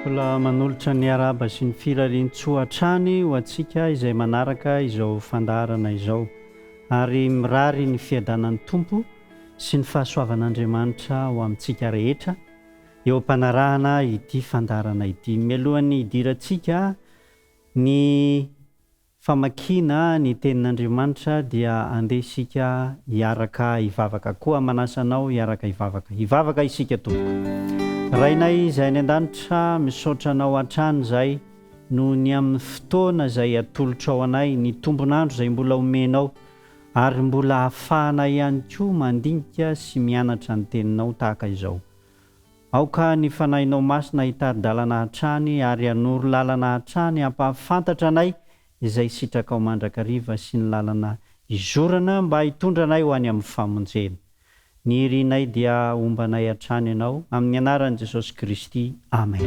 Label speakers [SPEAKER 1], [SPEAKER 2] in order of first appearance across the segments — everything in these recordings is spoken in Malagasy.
[SPEAKER 1] Mbola manolotra ny arahaba sy ny firarian-tsoa hatrany ho antsika izay manaraka izao fandaharana izao, ary mirary ny fiadanan'ny Tompo sy ny fahasoavan'Andriamanitra ho amintsika rehetra eo am-panarahana ity fandaharana ity. Mialohan'ny hidirantsika ny. Famakiana ny Tenin'Andriamanitra dia andeha isika hiaraka hivavaka. Koa manasa anao hiaraka hivavaka. Hivavaka isika tompoko. Rainay izay any an-danitra, misaotra Anao hatrany izahay noho ny amin'ny fotoana izay atolotrao anay, ny tombon'andro izay mbola omenao, ary mbola ahafahanay ihany koa mandinika sy mianatra ny Teninao tahaka izao. Aoka ny Fanahinao Masina hitari-dalana hatrany ary hanoro lalana hatrany hampahafantatra anay izay sitrakao mandrakariva sy ny lalana hizorana mba hitondra anay ho any amin'ny famonjena. Ny irinay dia hombanay hatrany Ianao, amin'ny anaran'i Jesosy Kristy, amen.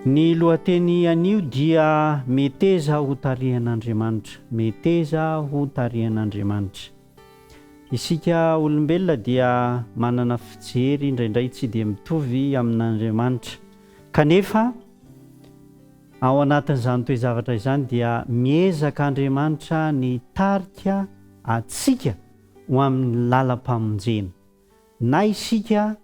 [SPEAKER 1] Ny lohateny anio dia Meteza ho tarihan'Andriamanitra, Meteza ho tarihan'Andriamanitra. Isika olombelona dia manana fijery indraindray tsy dia mitovy amin'Andriamanitra. Kanefa, ao anatin'izany toe-javatra izany dia miezaka Andriamanitra ny hitarika antsika ho amin'ny lalam-pamonjena. Na isika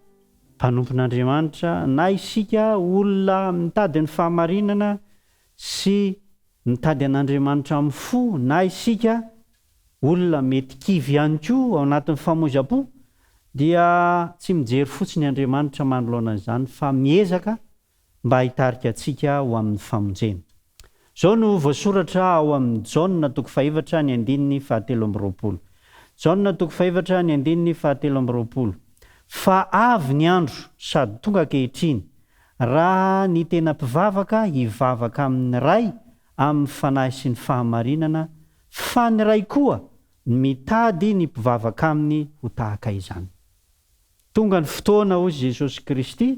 [SPEAKER 1] mpanompon'Andriamanitra, na isika olona mitady ny fahamarinana sy mitady an'Andriamanitra amin'ny fo, na isika Olona mety kivy ihany koa ao anatin'ny famoizam-po dia tsy mijery fotsiny Andriamanitra manoloana izany fa miezaka mba hitarika antsika ho amin'ny famonjena. Izao no voasoratra ao amin'ny Jaona toko fahefatra ny andininy fahatelo amby roapolo. Jaona toko fahefatra ny andininy fahatelo amby roapolo, Fa avy ny andro sady tonga ankehitriny raha ny tena mpivavaka hivavaka amin'ny Ray amin'ny fanahy sy ny fahamarinana Fa ny Ray koa mitady ny mpivavaka Aminy ho tahaka izany. Tonga ny fotoana, hoy Jesosy Kristy,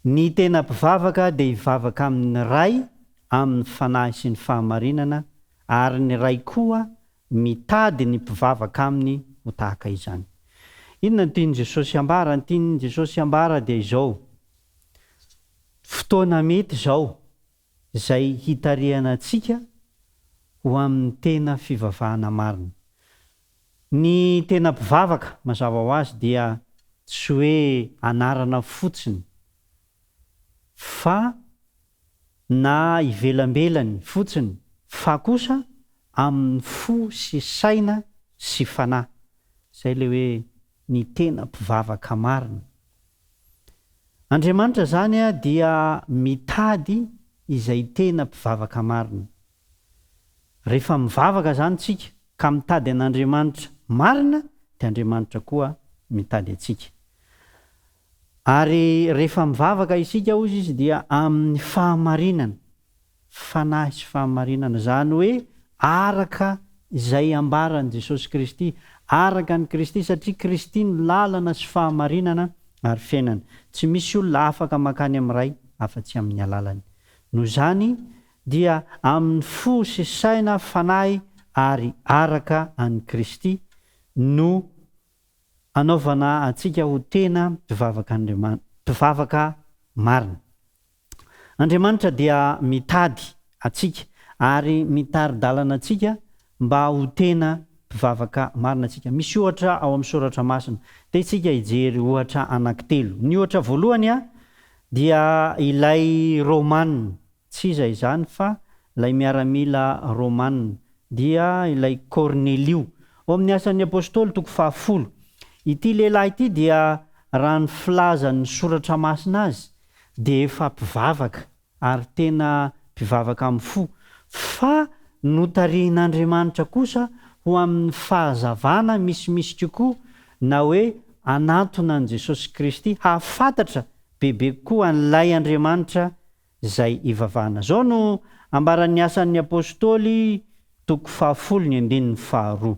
[SPEAKER 1] ny tena mpivavaka dia hivavaka amin'ny Ray amin'ny Fanahy sy ny fahamarinana, ary ny Ray koa mitady ny mpivavaka Aminy ho tahaka izany. Inona no tian'i Jesosy hambara? Ny tian'i Jesosy hambara dia izao, fotoana mety izao. izay hitarihana antsika ho amin'ny tena fivavahana marina. Ny tena mpivavaka, mazava ho azy, dia tsy hoe anarana fotsiny, fa na ivelambelany fotsiny, fa kosa amin'ny fo sy saina sy fanahy. Izay ilay hoe ny tena mpivavaka marina. Andriamanitra izany dia mitady izay tena mpivavaka marina. Rehefa mivavaka izany tsika ka mitady an'Andriamanitra marina dia Andriamanitra koa mitady antsika. Ary rehefa mivavaka isika hozy izy dia amin'ny fahamarinana. fanahy sy fahamarinana, izany hoe araka izay ambaran'i Jesosy Kristy, araka an'i Kristy, satria Kristy no lalana sy fahamarinana ary fiainana. Tsy misy olona afaka mankany amin'ny Ray afa-tsy amin'ny alalany. Noho izany dia amin'ny fo sy saina, fanahy ary araka an'i Kristy no anaovana antsika ho tena mpivavaka Andriamanitra, mpivavaka marina. Andriamanitra dia mitady antsika ary mitari-dalana antsika mba ho tena mpivavaka marina isika. Misy ohatra ao amin'ny Soratra Masina. Te isika hijery ohatra anankitelo. Ny ohatra voalohany dia ilay Romana, tsy iza izany fa ilay miaramila Romana, dia ilay Kornelio. Ao amin'ny Asan'ny Apostoly, toko fahafolo. Ity lehilahy ity dia raha ny filazan'ny Soratra Masina azy, dia efa mpivavaka ary tena mpivavaka amin'ny fo, fa notarihin'Andriamanitra kosa ho amin'ny fahazavana misimisy kokoa na hoe hanantona an'i Jesosy Kristy hahafantatra bebe kokoa an'ilay Andriamanitra izay ivavahana. Izao no ambaran'ny Asan'ny Apostoly, toko fahafolo ny andininy faharoa,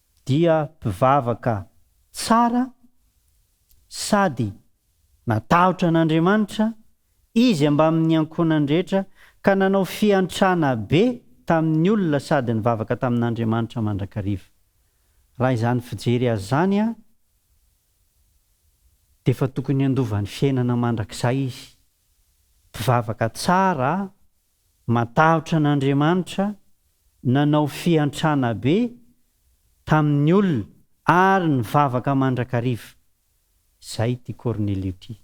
[SPEAKER 1] dia mpivavaka tsara sady natahotra an'Andriamanitra izy ambamin'ny ankohonany rehetra ka nanao fiantrana be tamin'ny olona sady nivavaka tamin'Andriamanitra mandrakariva. Raha izany fijery azy izany dia efa tokony handova ny fiainana mandrakizay izy. Mpivavaka tsara. Matahotra an'Andriamanitra, nanao fiantrana be tamin'ny olona ary nivavaka mandrakariva. Izay ity Kornelio ity.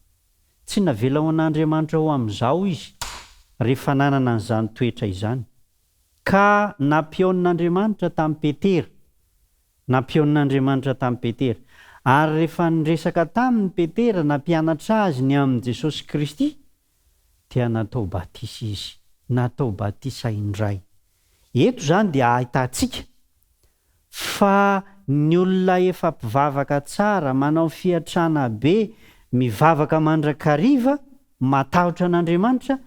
[SPEAKER 1] Tsy navela ho an'Andriamanitra ho amin'izao izy rehefa nanana an'izany toetra izany. Ka nampionin'Andriamanitra tamin'i Petera. Nampionin'Andriamanitra tamin'i Petera. Ary rehefa niresaka taminy Petera nampianatra azy ny amin'i Jesosy Kristy, dia natao batisa izy, natao batisa indray. Eto izany dia ahitantsika fa ny olona efa mpivavaka tsara, manao fiantrana be, mivavaka mandrakariva, matahotra an'Andriamanitra,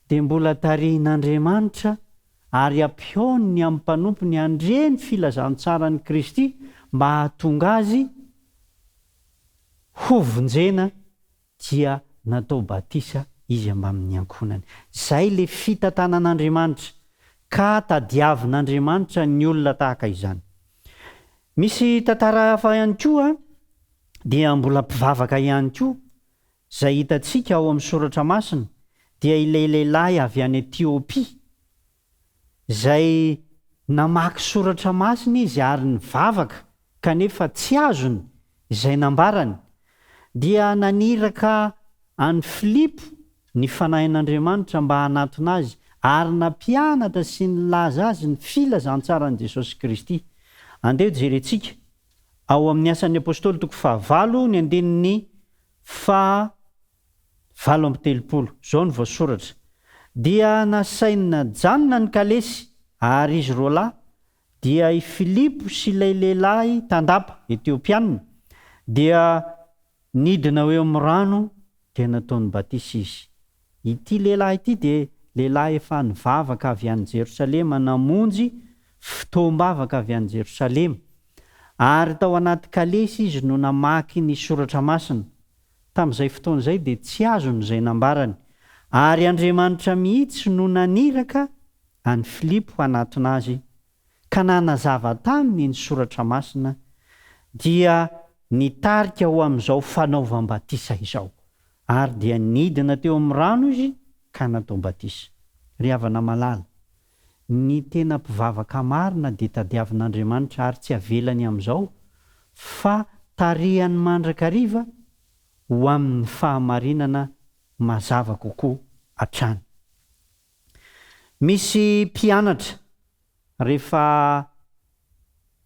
[SPEAKER 1] dia mbola tarihin'Andriamanitra ary ampihaoniny amin'ny mpanompony handre ny filazantsaran'i Kristy mba hahatonga azy hovonjena dia natao batisa izy ambamin'ny ankohonany. Izay ilay fitantanan'Andriamanitra, ka tadiavin'Andriamanitra ny olona tahaka izany. Misy tantara hafa ihany koa, dia mbola mpivavaka ihany koa, izay hitantsika ao amin'ny Soratra Masina, dia ilay lehilahy avy any Etiopia, izay namaky soratra masina izy ary nivavaka kanefa tsy azony izay nambarany, dia naniraka an'i Filipo ny Fanahin'Andriamanitra mba hanatona azy ary nampianatra sy nilaza azy ny filazantsaran'i Jesosy Kristy. Andeha jerentsika ao amin'ny Asan'ny Apostoly toko fahavalo ny andininy faha valo amby telopolo, izao no voasoratra, Dia nasainy najanona ny kalesy, ary izy roa lahy, dia i Filipo sy ilay lehilahy tandapa, Etiopianina, dia nidina ho eo amin'ny rano, dia nataony batisa izy. Ity lehilahy ity dia lehilahy efa nivavaka avy any Jerosalema, namonjy fotoam-bavaka avy any Jerosalema, ary tao anaty kalesy izy no namaky ny Soratra Masina. tamin'izay fotoana izay dia tsy azony izay nambarany, ary Andriamanitra mihitsy no naniraka an'i Filipo hanatona Azy ka nanazava taminy ny Soratra Masina dia nitarika ho amin'izao fanaovam-batisa izao, ary dia nidina teo amin'ny rano Izy ka natao batisa. Ry havana malala, Ny tena mpivavaka marina dia tadiavin'Andriamanitra ary tsy avelany amin'izao fa tarihany mandrakariva ho amin'ny fahamarinana mazava kokoa hatrany. Misy mpianatra rehefa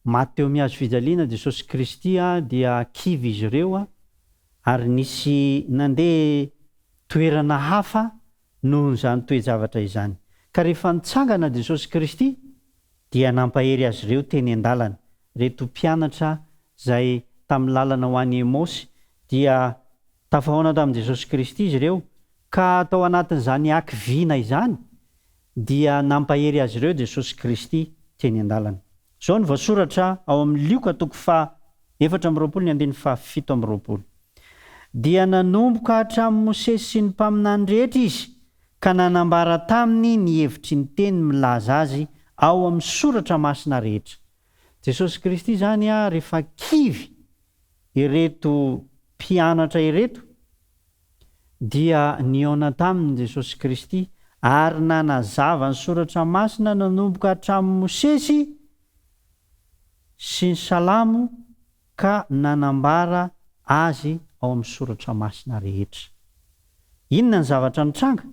[SPEAKER 1] maty teo amin'ny hazo fijaliana Jesosy Kristy dia kivy izy ireo ary nisy nandeha toerana hafa noho izany toe-javatra izany. Ka rehefa nitsangana Jesosy Kristy dia nampahery azy ireo teny an-dalana. Ireto mpianatra izay tamin'ny lalana ho any Emaosy dia tafahaona tamin'i Jesosy Kristy izy ireo ka tao anatin'izany hakiviana izany dia nampahery azy ireo Jesosy Kristy teny an-dalana. Izao no voasoratra ao amin'ny Lioka toko faha efatra amby roapolo ny andininy faha fito amby roapolo, Dia nanomboka hatramin'i Mosesy sy ny mpaminany rehetra izy ka nanambara taminy ny hevitry ny teny milaza azy ao amin'ny soratra masina rehetra. Jesosy Kristy izany ary efa kivy ireto mpianatra ireto dia nihaona taminy Jesosy Kristy ary nanazava ny Soratra Masina nanomboka hatramin'ny Mosesy sy ny Salamo ka nanambara Azy ao amin'ny Soratra Masina rehetra. Inona ny zavatra nitranga?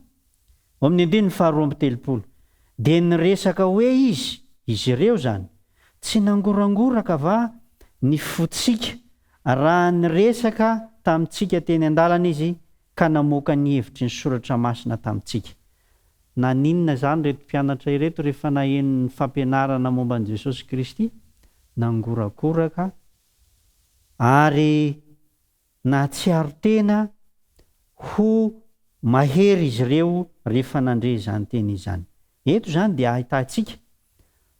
[SPEAKER 1] Ao amin'ny andininy faharoa amby telopolo, dia niresaka hoe izy, izy ireo izany, Tsy nangorangoraka va ny fontsika raha niresaka tamintsika teny an-dalana izy ka namoaka ny hevitry ny Soratra Masina tamintsika? Naninona izany ireto mpianatra ireto rehefa naheno ny fampianarana momba an'i Jesosy Kristy? Nangorakoraka ary. Nahatsiaro tena ho mahery izy ireo rehefa nandre izany teny izany. Eto izany dia ahitantsika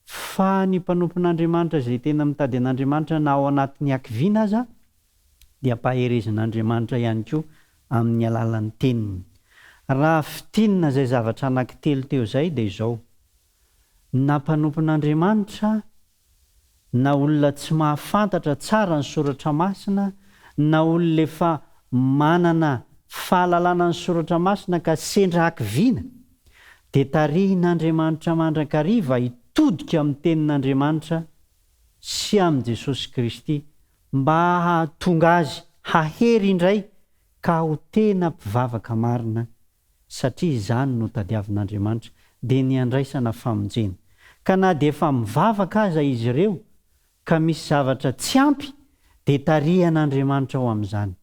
[SPEAKER 1] fa ny mpanompon'Andriamanitra izay tena mitady an'Andriamanitra na ao anatin'ny hakiviana aza dia mpaherezin'Andriamanitra ihany koa amin'ny alalan'ny teniny. Raha fintinina izay zavatra anankitelo teo izay dia izao, na mpanompon'Andriamanitra na olona tsy mahafantatra tsara ny soratra masina na olona efa manana fahalalana ny soratra masina ka sendra hakiviana dia tarihin'Andriamanitra mandrakariva hitodika amin'ny tenin'Andriamanitra sy amin'i Jesosy Kristy mba hahatonga azy hahery indray ka ho tena mpivavaka marina satria izany no tadiavin'Andriamanitra, dia ny handraisana famonjena. Ka na dia efa mivavaka aza izy ireo ka misy zavatra tsy ampy dia tarihan'Andriamanitra ao amin'izany.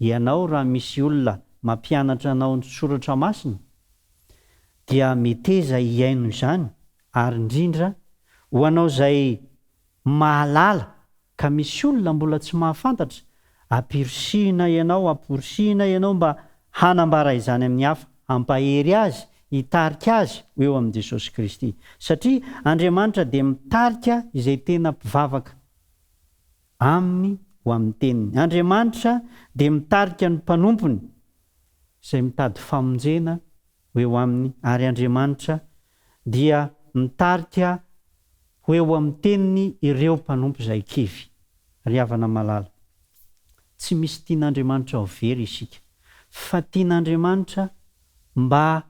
[SPEAKER 1] Ianao raha misy olona mampianatra anao ny soratra masina dia meteza hihaino izany ary indrindra ho anao izay Mahalala ka misy olona mbola tsy mahafantatra, ampirisihina ianao, amporisihina ianao mba hanambara izany amin'ny hafa, hampahery azy, hitarika azy ho eo amin'i Jesosy Kristy. Satria Andriamanitra dia mitarika izay tena mpivavaka Aminy ho amin'ny teniny. Andriamanitra dia mitarika ny mpanompony izay mitady famonjena ho eo aminy, ary Andriamanitra dia mitarika ho eo amin'ny teniny ireo mpanompo izay kivy. Ry havana malala, tsy misy tian'Andriamanitra ho very isika, fa tian'Andriamanitra mba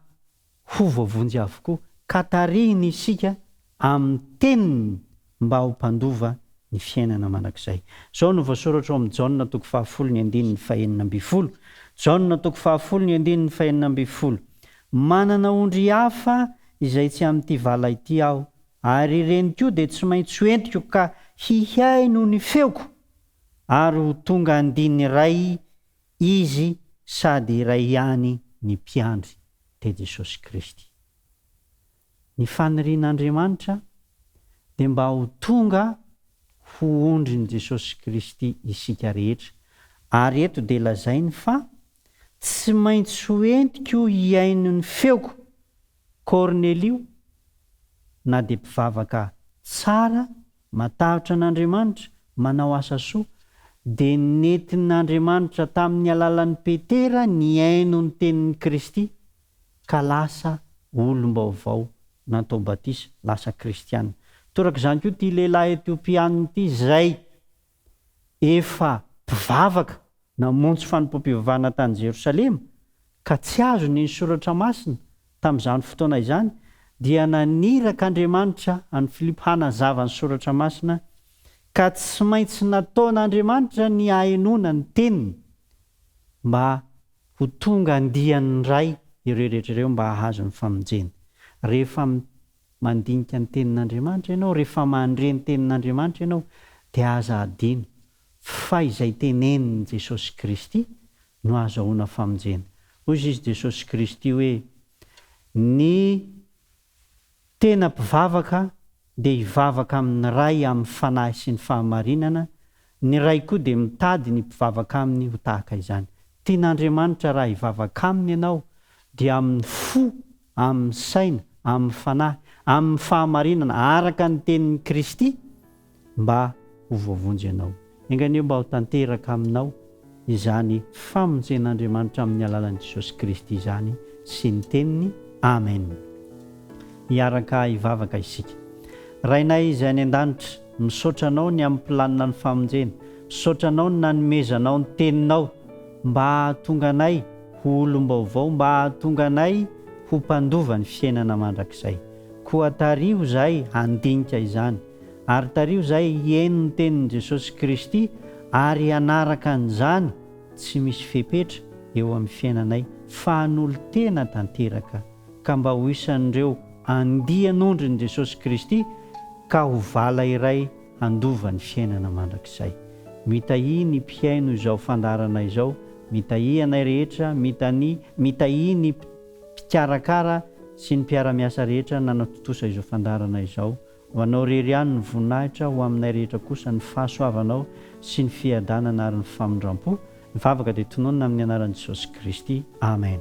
[SPEAKER 1] ho voavonjy avokoa, ka tarihiny isika amin'ny teniny mba ho mpandova ny fiainana mandrakizay. Izao no voasoratra ao amin'ny Jaona toko fahafolo ny andininy fahenina ambin'ny folo, Jaona toko fahafolo ny andininy fahenina ambin'ny folo, Manana ondry hafa izay tsy amin'ity vala ity aho, ary ireny koa dia tsy maintsy ho entiko ka hihaino ny feoko, ary ho tonga andiany iray izy sady iray ihany ny mpiandry dia Jesosy Kristy. Ny fanirian'Andriamanitra dia mba ho tonga ho ondrin'i Jesosy Kristy isika rehetra, ary eto dia lazainy fa tsy maintsy ho entiko hihaino ny feoko Kornelio na dia mpivavaka tsara Matahotra an'Andriamanitra, manao asa soa. Dia nentin'Andriamanitra tamin'ny alalan'i Petera nihaino ny tenin'i Kristy, ka lasa olom-baovao, natao batisa, lasa kristiana. Torak'izany koa ity lehilahy Etiopiana ity, izay. efa mpivavaka namonjy fanompoam-pivavahana tany Jerosalema ka tsy azony ny Soratra Masina tamin'izany fotoana izany, dia naniraka Andriamanitra an'i Filipo hanazava ny Soratra Masina, ka tsy maintsy nataon'Andriamanitra ny hahenoana ny teniny mba ho tonga andiany indray ireo rehetra ireo mba hahazo ny famonjena. Rehefa Mandinika ny Tenin'Andriamanitra ianao, rehefa mandre ny Tenin'Andriamanitra ianao dia aza hadino fa izay tenenin'i Jesosy Kristy no ahazahoana famonjena. Hoy Izy Jesosy Kristy hoe, Ny tena mpivavaka dia hivavaka amin'ny Ray amin'ny fanahy sy ny fahamarinana Ny Ray koa dia mitady ny mpivavaka Aminy ho tahaka izany. Tian'Andriamanitra raha hivavaka Aminy ianao, dia amin'ny fo, amin'ny saina, amin'ny fanahy, amin'ny fahamarinana, araka ny tenin'i Kristy, mba ho voavonjy ianao. Enga anie mba ho tanteraka Aminao. izany famonjen'Andriamanitra amin'ny alalan'i Jesosy Kristy izany sy ny Teniny. Amen. Hiaraka hivavaka isika. Rainay Izay any An-danitra, misaotra Anao ny amin'ny planina ny famonjena. Misaotra Anao ny nanomezanao ny Teninao mba hahatonga anay ho olom-baovao, mba hahatonga anay ho mpandova ny fiainana mandrakizay. Koa tariho izahay handinika izany. ary tariho izay hihaino ny tenin'i Jesosy Kristy ary hanaraka an'izany tsy misy fepetra eo amin'ny fiainanay fa hanolo-tena tanteraka ka mba ho isan'ireo andian'ondrin'i Jesosy Kristy ka ho vala iray handova ny fiainana mandrakizay. Mitahia ny mpihaino izao fandaharana izao, mitahia anay rehetra, mitani, mitahia ny mpikarakara sy ny mpiara-miasa rehetra nanatontosa izao fandaharana izao, Ho Anao irery ihany ny voninahitra, ho aminay rehetra kosa ny fahasoavanao sy ny fiadanana ary ny famindrampo. Ny vavaka dia tononina amin'ny anaran'i Jesosy Kristy. Amen.